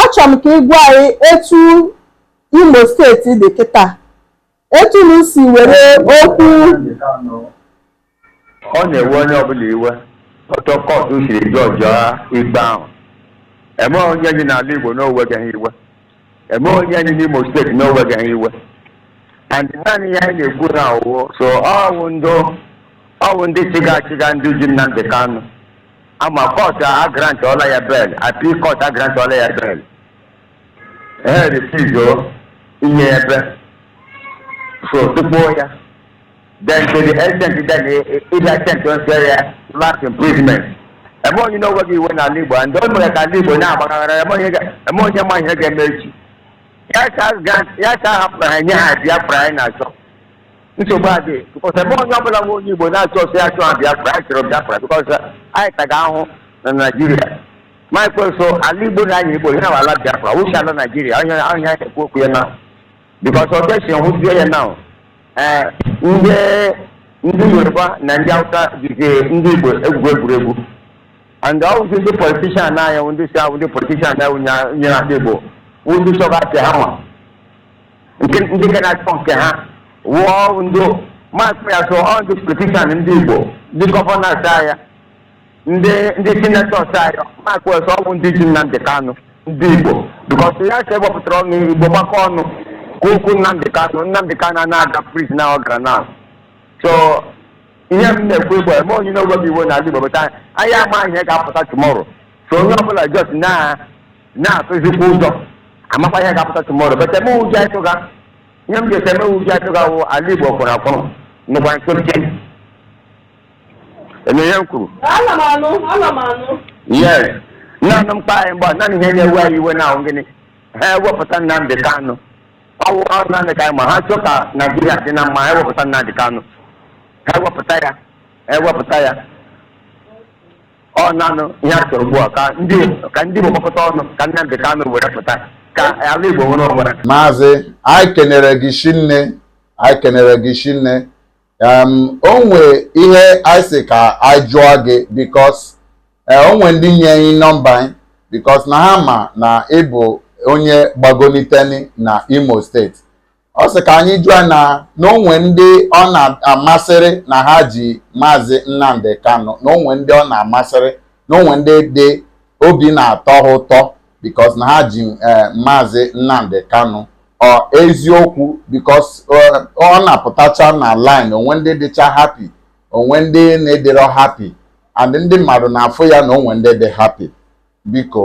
Achọrọ m ka ị gwa anyị etu Imo steeti dị kịta, etu unu si were okwu Ọ na-ewe onye ọbụla iwe otu kọtụ siri jọjụọ ikpe ahụ. Enweghị onye dị n'ala Igbo na o wegaghị iwe. Enweghị onye dị n'Imo steeti na o wegaghị iwe. And naanị ihe anyị na-ekwu na ọ wụ so ọ wụ ndị chịga achịga ndị ji Nnamdị Kanụ. a ma kọtụ agrantọla ya bail appeal kọtụ agrantọla ya bail ha refuse inye ya bail so tụkpọọ ya then to the extent that ị bịa sentence ya life imprisonment enwe onye na-eweghị iwe n'ala igbo ndị o mere ka ala igbo na-agbaghara enwe onye ga- enwe onye ma ihe ga-eme echi ya ka grant ya ka hapụrụ ha nye ha biafra anyị na-achọ nsogbu adịghị because enwe onye ọbụla enwe onye igbo na-achọ ọsọ ya chọọ biafra anyị chọrọ biafra because anyị taga ahụ na naijiria ma ekwenso ala igbo na anya igbo ya ala biafra wụzi ala naijiria onye onye anyị ekwu okwu ya na because ọ bịazi hụzie ya na ee ndị ndị yoruba na ndị hausa jizi ndị igbo egwuri egwu and ọ wụzi ndị politician anyị ndị si ahụ ndị politician anyị nyere ndị igbo wụ ndị chọga apịa ha nwa nke ndị ga na-achọ nke ha nwa ọ wụ ndị maazị ya so ọ ndị politician ndị igbo ndị governors anyị ndị ndị senators anyị maazị ya so ọ wụ ndị ji nnamdị kanụ ndị igbo because ya ka ewepụtara ọnụ igbo gbakọọ ọnụ kwuo okwu nnamdị kanụ nnamdị kanụ na-aga prison a ọ gara na so ihe m na-ekwu igbo enwe onye na-eweghị iwe n'ala igbo but anyị ama ihe ga-apụta tomorrow so onye ọbụla just na na-atụzikwa ụjọ amakwa ihe ga-apụta tomorrow but ihe m ụjọ atụga ihe m ga-ete ihe m ụjọ atụga wụ ala igbo kwụrụ akwụrụ nọkwa nkịtị ị ma ihe m kwuru Ana m anụ, ana m anụ. yes naanị mkpa anyị mgbe naanị ihe na-ewe anyị iwe na ọ wụ gịnị ha wepụta nnamdị kanụ ọ wụ ọ wụ naanị mkpa anyị ma ha chọ ka naijiria dị na mma ha wepụta nnamdị kanụ ha wepụta ya ha wepụta ya ọ naanị ihe a chọrọ ugbu a ka ndị ka ndị Igbo gbakọta ọnụ ka Nnamdị Kanụ were pụta ka ala Igbo nwere onwe ya maazị anyị kenere gị shinne anyị kenere gị shinne um, o nwe ihe anyị sị ka anyị jụọ gị because eh, o nwe ndị nye anyị nọmba gị because na ha ma na ị bụ onye gbagoniteni na Imo steeti ọ sị ka anyị jụọ na na o nwe ndị ọ na-amasịrị na ha ji maazị Nnamdi Kanu na o nwe ndị ọ na-amasịrị na o nwe ndị dị obi na-atọ ha ụtọ because na ha ji eh, maazị Nnamdi Kanu ọ eziokwu because eh, ọ na-apụtacha na line o nwe ndị dịcha happy o nwe ndị na-adịrọ happy and ndị mmadụ na-afụ ya na o nwe ndị dị happy biko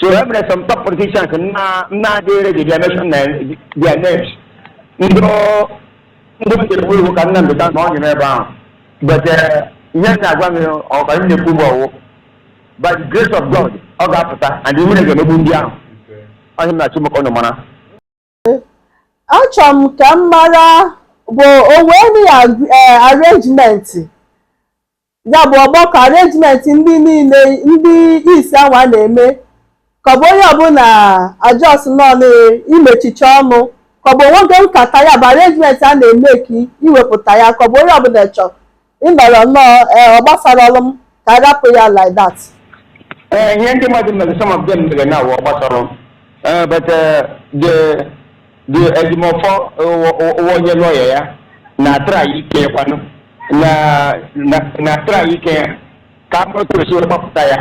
So e nwere some top politicians na na adịghị ready ị mention their names. Ndị ọ- ndị uche ha wụ ka Nnamdi Kanu nọdị ebe ahụ. But eh, ihe m na-agwa gị ọ ka m na-ekwu bụ ọ wụ. By the grace of God, ọ ga-apụta and ihere ga-emegbu ndị ahụ. Okay. Onye m na-achụ maka ọnụ mara. achọrọ m ka m mara bụ o nwe any ag- eh, arrangement ya bụ ọgbakọ arrangement ndị niile ndị East anwa na-eme ka ọ bụ onye ọbụla a just nọ n'imechicha ọnụ ka ọ bụ o nwe oge nkata ya bụ arrangement a na-eme ka e wepụta ya ka ọ bụ onye ọbụla chọrọ ị nọrọ nnọọ ee ọ gbasarọrọ m ka a rapụ ya like that Eh, ihe ndị mmadụ mere some of them mere na-awụ ọ gbasarọ m Eh, but eh, the the Ejimọfọ wụ onye lawyer ya na try ike kwanụ na na na try ike ya ka mata otu e si wee gbapụta ya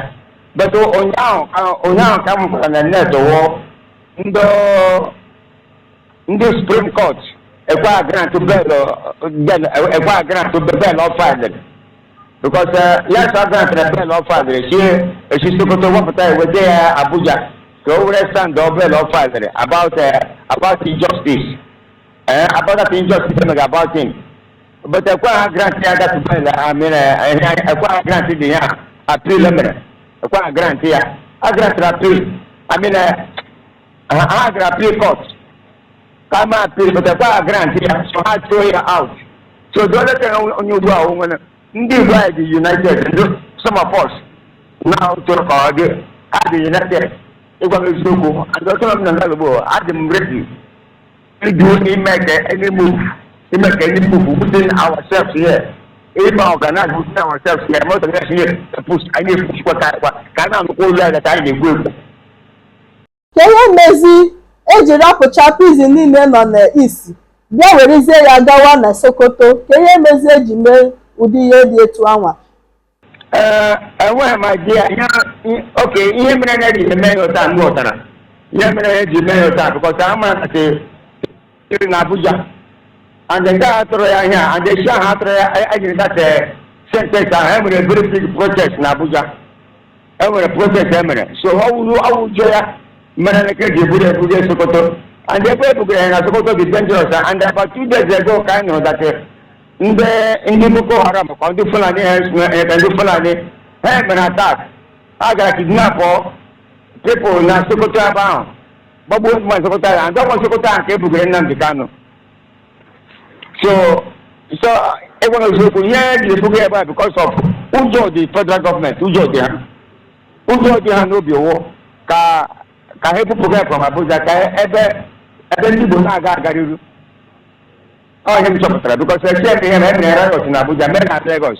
but ụnyaahụ ka ụnyaahụ ka m hụrụ na net wụ ndị ndị Supreme Court ekwe a grant bail ekwe a grant bail ọ filedịrị because yes a grant the bail ọ filedịrị sị e si Sokoto wepụta eweta ya Abuja ka o were stand on bail ọ filedịrị about eh, about injustice eh, about that injustice e mega about him but ekwe ha grant ya that bail I mean ekwe ha grant dị ya appeal e mere ekwe ha grant ya a grant the appeal I mean ha gara appeal court kama appeal court ekwe grant ya so ha throw ya out so doletara onye ugbu a o nwere ndị Igbo anyị adị united ndị some of us na tụrụ ka ọ dị ha adị united ịgwa m eziokwu and ọtụtụ ndị n'ala Igbo adị ready ị do ịmake any move ịmake any move within ourselves here even organize within ourselves here ma organize here anyị pushikwa ka anyị na-anụkwa olu anyị ka anyị na-egbu egbu Kee ihe mezi e ji rapụcha prison niile nọ n'East bịa werezie ya gawa na Sokoto, kee ihe mezi e ji mee ụdị ihe dị etu anwa? Ee, enweghị m idea ihe i- okay ihe mere na eji eme ya otu a m ghọtara ihe mere eji mee ya otu a because a ma na siri na Abuja and the day a tụrụ ya ihe a and echi ahụ a tụrụ ya a- e jiri that eh, sentence ahụ e nwere very big protest na Abuja e nwere protest e mere so ọ wụrụ ọ wụ ụjọ ya mere na ka eji eburu eburu ya Sokoto and ebe e bugara ya na Sokoto dị dangerous and about two days ago ka anyị nụrụ that eh, ndị ndị Boko Haram ka ndị Fulani ha eh, eh, ndị Fulani ha mere attack ha gara kidnap people na Sokoto ebe ahụ gbagbuo ndị mmadụ Sokoto ahụ ndị ọkwa Sokoto ahụ ka e bugara Nnamdi Kanu so so ịgwa n'eziokwu ihe e ji ebuga ebe a because of ụjọ dị federal government ụjọ dị ha ụjọ dị ha n'obi wụ ka ka ha ebupụga from Abuja ka ebe ebe ndị Igbo na-aga agaghị iru ọ ihe m chọpụtara because eche m ihe na-emere Lagos na Abuja mere na Lagos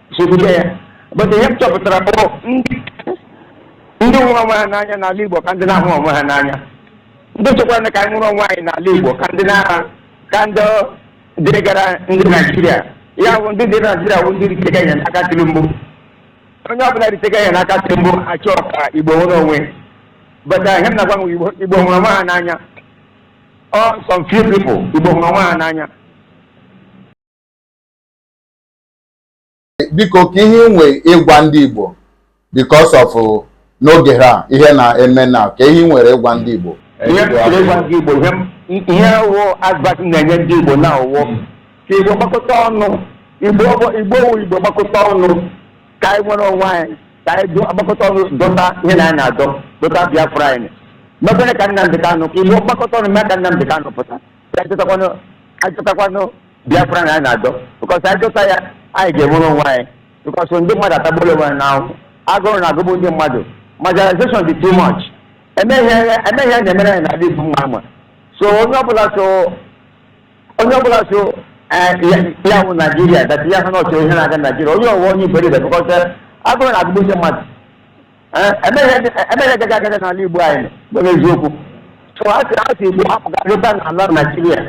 sogbuje ya but ihe m chọpụtara bụ ndị ndị hụrụ onwe ha n'anya n'ala Igbo ka ndị na-ahụ onwe ha n'anya ndị chọkwara ka anyị nwere onwe anyị n'ala Igbo ka ndị na-aha ka ndị dịrịgara ndị Naijiria ya bụ ndị dị Naijiria bụ ndị ritega ihe n'aka Tinubu onye ọbụla ritega ihe n'aka Tinubu achọ ka Igbo nwere onwe but ihe m na-agwa ụmụ Igbo Igbo hụrụ onwe ha n'anya ọ some few people Igbo hụrụ onwe ha n'anya biko kee ihe i nwe ịgwa ndị Igbo because of n'oge a ihe na-eme na kee ihe i nwere ịgwa ndị Igbo ihe wụ advice ị na-enye ndị Igbo na ọ wụ ka Igbo gbakọta ọnụ Igbo wụ Igbo gbakọta ọnụ ka anyị nwere onwe anyị ka anyị gbakọta ọnụ dọta ihe na anyị na-adọ dọta Biafra anyị mebere ka Nnamdi Kanu ka Igbo gbakọta ọnụ mee ka Nnamdi Kanu pụta si anyị dọtakwanụ anyị dọtakwanụ biafra na anyị na-adọ because anyị dọta ya anyị ga-enwere onwe anyị because ndị mmadụ atagbuola onwe ha n'ahụhụ agụrụ na-agụgbu ndị mmadụ marginalization dị too much enweghị ihe na-emere anyị n'ala igbo mma ama so onye ọbụla so onye ọbụla sị ya wụ naijiria that ya ha na ọchọ ihe na-aga naijiria onye ahụ wụ onye iberibe because agụrụ na-agụgbu ndị mmadụ enweghị ihe ga-aga aga n'ala igbo anyị bụ n'eziokwu so a sị a sị igbo hapụga lọta n'ala naijiria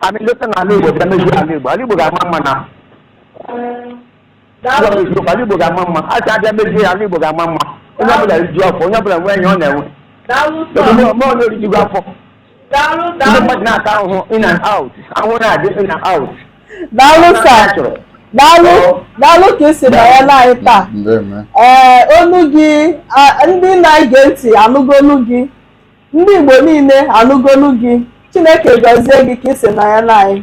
I mean lọta n'ala igbo bịa mezie ala igbo ala igbo ga-ama mma na ụlọ n'eziokwu ala igbo ga-ama mma a sị a bịa mezie ala igbo ga-ama mma onye ọbụla riju afọ onye ọbụla nwee ihe ọ na-enwe Daalụ sir. ebe onye orijugo afọ Daalụ, ndị daalụ. mmadụ na-ata ahụhụ in and out ahụhụ na-adị in and out daalụ Ọ sir na-achọ. daalụ daalụ ka ị si nọnyere anyị taa Ndeme. ee olu gị a- ndị na-ege ntị anụgo olu gị ndị igbo niile anụgo olu gị chineke gọzie gị ka ị si nọnyere anyị